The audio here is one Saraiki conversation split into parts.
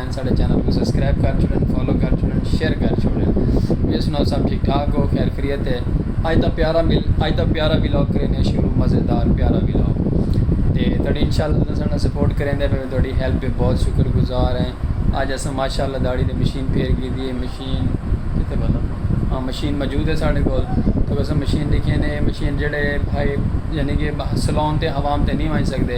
ہیں ساڑے چینل کو سبسکرائب کر چھوڑن فالو کر چھوڑن شیئر کر چھوڑن بھی سناؤ سب ٹھیک ٹھاک ہو خیر خریت ہے آج دا پیارا مل آج دا پیارا ولاگ کریں نے شروع مزیدار پیارا ولاگ تے تڑی انشاءاللہ تساں ساڑا سپورٹ کریں دے میں تڑی ہیلپ پہ بہت شکر گزار ہیں آج اساں ماشاءاللہ داڑی دے مشین پھیر کی دی ہے مشین کتے بندہ ہاں مشین موجود ہے ساڑے کول تو اساں مشین دیکھیں نے مشین جڑے بھائی یعنی کہ سلون تے حوام تے نہیں وائن سکدے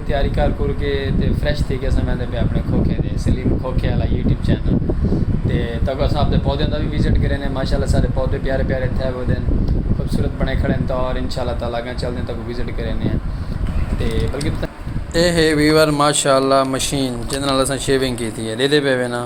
تیاری کر کر کے تے فریش تھی کے اساں ویندے پے اپنے کھوکھے دے سلیم کھوکھے والا یوٹیوب چینل تے تاکہ اساں اپنے پودیاں دا بھی وزٹ کریں نے ماشاءاللہ سارے پودے پیارے پیارے تھے ہوئے دین خوبصورت بنے کھڑے ہیں تو اور انشاءاللہ تعالی اگاں چل دیں تاکہ وزٹ کریں نے تے بلکہ اے ہے ویور ماشاءاللہ مشین جن نال اساں شیونگ کیتی ہے دیدے پے وینا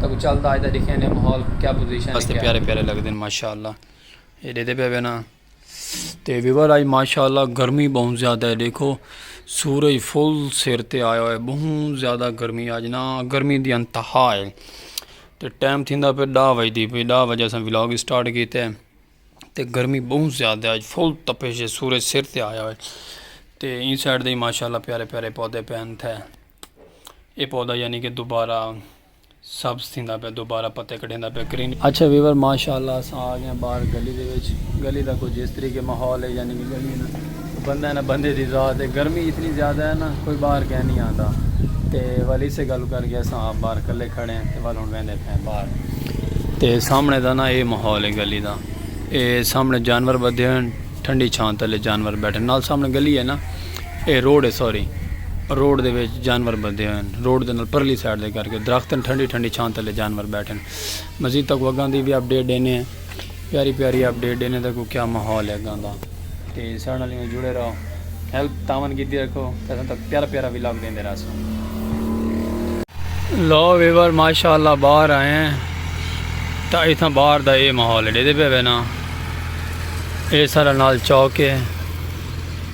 تاکو چلدا آج دا دیکھیں نے ماحول کیا پوزیشن ہے کیا پیارے پیارے لگ دین ماشاءاللہ یہ دے دے پہ وینا تے ویور آج ماشاءاللہ گرمی بہن زیادہ ہے دیکھو سورج فل سیر تے آیا ہوئے بہن زیادہ گرمی آج نا گرمی دی انتہا ہے تے ٹائم تھی دا پہ ڈا وجہ دی پہ ڈا وجہ سن ولاگ اسٹارٹ کی تے تے گرمی بہن زیادہ ہے آج فل تپے سے سورج سیر تے آیا ہوئے تے ان سائٹ دے ماشاءاللہ پیارے پیارے پودے پہن تھے اے پودا یعنی کہ دوبارہ سبز تھیندا پیا دوبارہ پتے کڈھیندا پیا گرین اچھا ویور ماشاءاللہ اساں آ گئے باہر گلی دے وچ گلی دا کچھ اس طریقے ماحول ہے یعنی کہ گلی نا بندہ ہے نا بندے دی ذات ہے گرمی اتنی زیادہ ہے نا کوئی باہر گئے نہیں آندا تے ول اسے گل کر کے اساں آپ باہر کلے کھڑے ہیں تے ول ہن ویندے پے ہیں باہر تے سامنے دا نا اے ماحول ہے گلی دا اے سامنے جانور بدھے ہیں ٹھنڈی چھاں تلے جانور بیٹھے نال سامنے گلی ہے نا اے روڈ ہے سوری روڈ دے وچ جانور بدھے ہوئے ہیں روڈ دے نال پرلی سائیڈ دے کر کے درخت ہیں ٹھنڈی ٹھنڈی چھان تلے جانور بیٹھے ہیں مزید تک وگاں دی بھی اپ ڈیٹ دینے ہیں پیاری پیاری اپ ڈیٹ دینے تک کیا ماحول ہے گاں دا تے سارے نال جڑے رہو ہیلپ تعاون کیتی رکھو تے اساں تک پیارا پیارا ولاگ دیندے رہسو لو ویور ماشاءاللہ باہر آئے ہیں تا ایتھاں باہر دا اے ماحول ہے ڈیدے پہ وینا اے سارا نال چوک ہے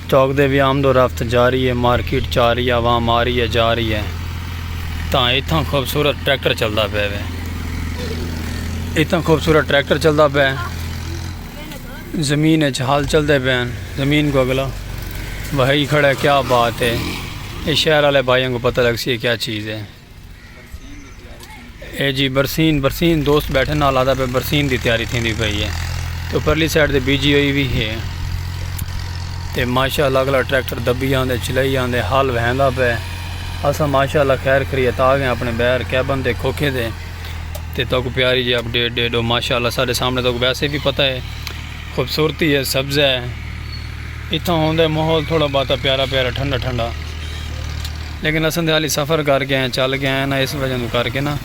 چوک دے وی آمد و رفت جاری اے مارکیٹ چاری عوام آ رہی اے جا رہی اے تاں اتھاں خوبصورت ٹریکٹر چلدا پئے وے اتھاں خوبصورت ٹریکٹر چلدا پئے زمین اچ ہل چلدے پئے ہن زمین کو اگلا وہائی کھڑا ہے کیا بات ہے اے شہر والے بھائیاں کو پتہ لگ سی اے کیا چیز ہے اے جی برسین برسین دوست بیٹھے نال آتا پہ برسین دی تیاری تھی دی پئی ہے تو پرلی سائٹ دے بی جی ہوئی بھی ہے تے ماشاء اللہ اگلا ٹریکٹر دبی آن دے چلائی آن دے حال وہن دا پہ اسا ماشاء اللہ خیر کری اتا گئے اپنے بیر کیبن دے کھوکھے دے تے تو کو پیاری جی اپ ڈیٹ ڈیٹ ہو ماشاء اللہ سارے سامنے تو کو ویسے بھی پتہ ہے خوبصورتی ہے سبز ہے اتھاں ہوندے ماحول تھوڑا باتا پیارا پیارا ٹھنڈا ٹھنڈا لیکن اساں دے حالی سفر کر گئے ہیں چل گئے ہیں نا اس وجہ تو کر کے نا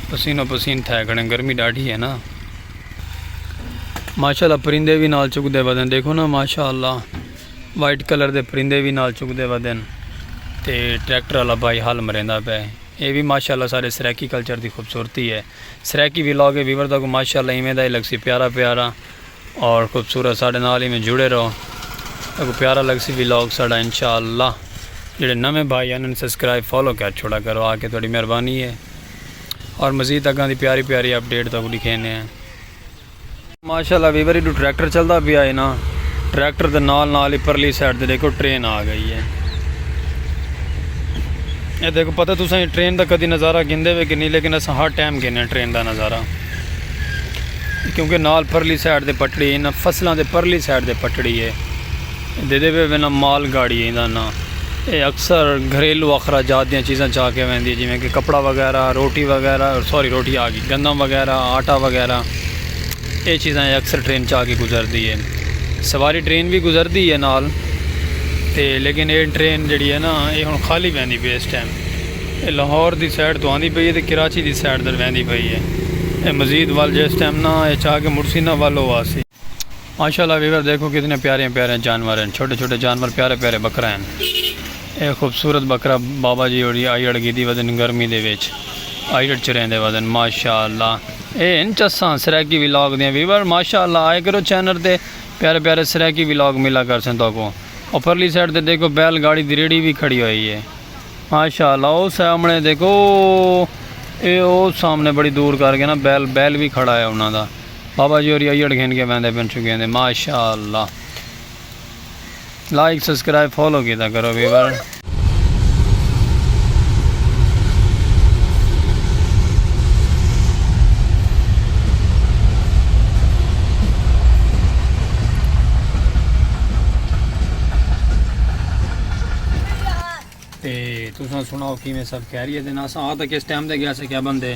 پسین و پسین تھے کھڑے گرمی ڈاڑھی ہے نا ماشاءاللہ پرندے بھی نال چک دے ودن دیکھو نا ماشاءاللہ وائٹ کلر دے پرندے بھی نال چک دے ودن تے ٹریکٹر والا بھائی حل مریندا پہ اے بھی ماشاءاللہ سارے سرائیکی کلچر دی خوبصورتی ہے سرائیکی ولاگ اے ویور تہاکوں ماشاءاللہ ایویں دا ہی لگسی پیارا پیارا اور خوبصورت ساڈے نال ایویں جڑے رہو تہاکوں پیارا لگسی ولاگ ساڈا انشاءاللہ جیڑھے نویں بھائی ہن انہاں سبسکرائب فالو کر چھوڑا کرو آکے تہاڈی مہربانی اے اور مزید اگاں دی پیاری پیاری اپڈیٹ تہاکوں ڈکھینے آں۔ ماشاءاللہ ویور ایڈو ٹریکٹر چلدا پیا ہے نا ٹریکٹر دے نال نال ہی پرلی سائیڈ تے دیکھو ٹرین آ گئی ہے اے دیکھو پتہ تساں یہ ٹرین دا کدی نظارہ گھندے وے کہ نہیں لیکن اساں ہر ٹائم گھنے ٹرین دا نظارہ کیونکہ نال پرلی سائیڈ تے پٹڑی ہے نا فصلاں دے پرلی سائیڈ تے پٹڑی ہے دیندے پئے وینداں مال گاڑی ایندا ناں اے اکثر گھریلو اخراجات دیاں چیزاں چا کے ویندی ہے جیویں کہ کپڑا وغیرہ روٹی وغیرہ سوری روٹی آگی گندم وغیرہ آٹا وغیرہ اے چیزاں اے اکثر ٹرین چا کے گزردی ہے سواری ٹرین وی گزردی ہے نال تے لیکن اے ٹرین جیڑی ہے نا اے ہن خالی ویندی پئی اس ٹائم اے لاہور دی سائڈ تو آندی پئی ہے تے کراچی دی سائڈ در ویندی پئی ہے اے مزید ول جس ٹائم نا اے چا کے مڑسی نا ول او آسی۔ ماشاءاللہ ویور دیکھو کتنے پیارے پیارے جانور ہیں چھوٹے چھوٹے جانور پیارے پیارے بکرا ہیں اے خوبصورت بکرا بابا جی اوڑی آئی اڑ گیدی ودن گرمی دے ویچ آئی اڑ چرین دے ودن ماشاءاللہ اے ان چسان سریکی ویلاگ دیں ویور ماشاءاللہ آئے کرو چینر دے پیارے پیارے سریکی ویلاگ ملا کر سن تو کو اور پرلی سیٹ دے دیکھو بیل گاڑی دی ریڑی بھی کھڑی ہوئی ہے ماشاءاللہ او سامنے دیکھو اے او سامنے بڑی دور کر گئے نا بیل بیل بھی کھڑا ہے انہوں دا بابا جی ہوری ایڑ گھن کے بیندے پن چکے ہیں ماشاءاللہ لائک سبسکرائب فالو کیتا کرو ویور تے تساں سناؤ کیویں سب خیریت ہیں اساں آ تک اس ٹائم دے گیا سے کیا بندے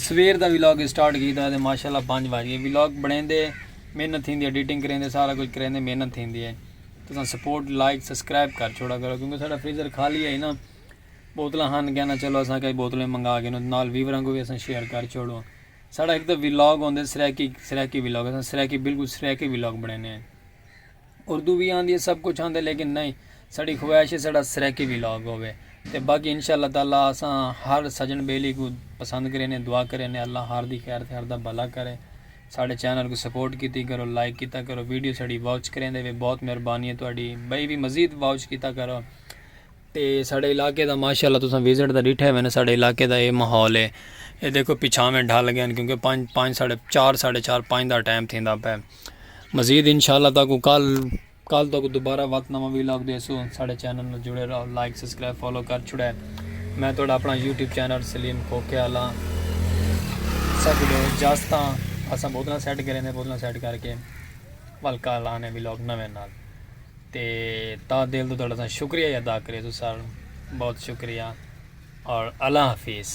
سویر دا ولاگ اسٹارٹ کیتا تے ماشاءاللہ پنج وج گئے ولاگ بنیندے محنت تھیندی ہے ایڈیٹنگ کریندے سارا کچھ کریندے محنت تھیندی ہے تساں سپورٹ لائک سبسکرائب کر چھوڑا کرو کیونکہ ساڈا فریزر خالی ہے نا بوتلاں ہن کہنا چلو اساں کئی بوتلیں منگا کے نال ویوراں کو بھی اساں شیئر کر چھوڑو ساڈا ایک تو ولاگ ہوندے سریکی سریکی ولاگ اساں سریکی بالکل سریکی ولاگ بنینے ہیں اردو وی آندی ہے سب کچھ آندے لیکن نئیں ساڈی خواہش ہے ساڈا سرائیکی وی لاگ ہووے تے باقی ان شاء اللہ تعالی اساں ہر سجن بیلی کوں پسند کرے نے دعا کرے نے اللہ ہر دی خیر تے ہر دا بھلا کرے ساڈے چینل کوں سپورٹ کیتی کرو لائک کیتا کرو ویڈیو ساڈی واچ کریندے وے بہت مہربانی ہے تہاڈی بھئی وی مزید واچ کیتا کرو تے ساڈے علاقے دا ماشاءاللہ تساں وزٹ دا ڈیٹھے ہوئے نے ساڈے علاقے دا اے ماحول ہے اے دیکھو پچھاویں ڈھل گئے کیونکہ پانچ پانچ ساڈے چار ساڈے چار پانچ دا ٹائم تھیندا پے مزید انشاء اللہ تاکو کل کل تاکو دوبارہ وقت نواں وی لاگ دے سو ساڑے چینل نال جڑے رہو لائک سبسکرائب فالو کر چھڑے میں تھوڑا اپنا یوٹیوب چینل سلیم کھوکھے والا سب لو جاستا اسا بوتلاں سیٹ کریں دے بوتلاں سیٹ کر کے ول کل آنے وی لاگ نویں نال تے تا دل تو تھوڑا سا شکریہ ادا کرے سو سر بہت شکریہ اور اللہ حافظ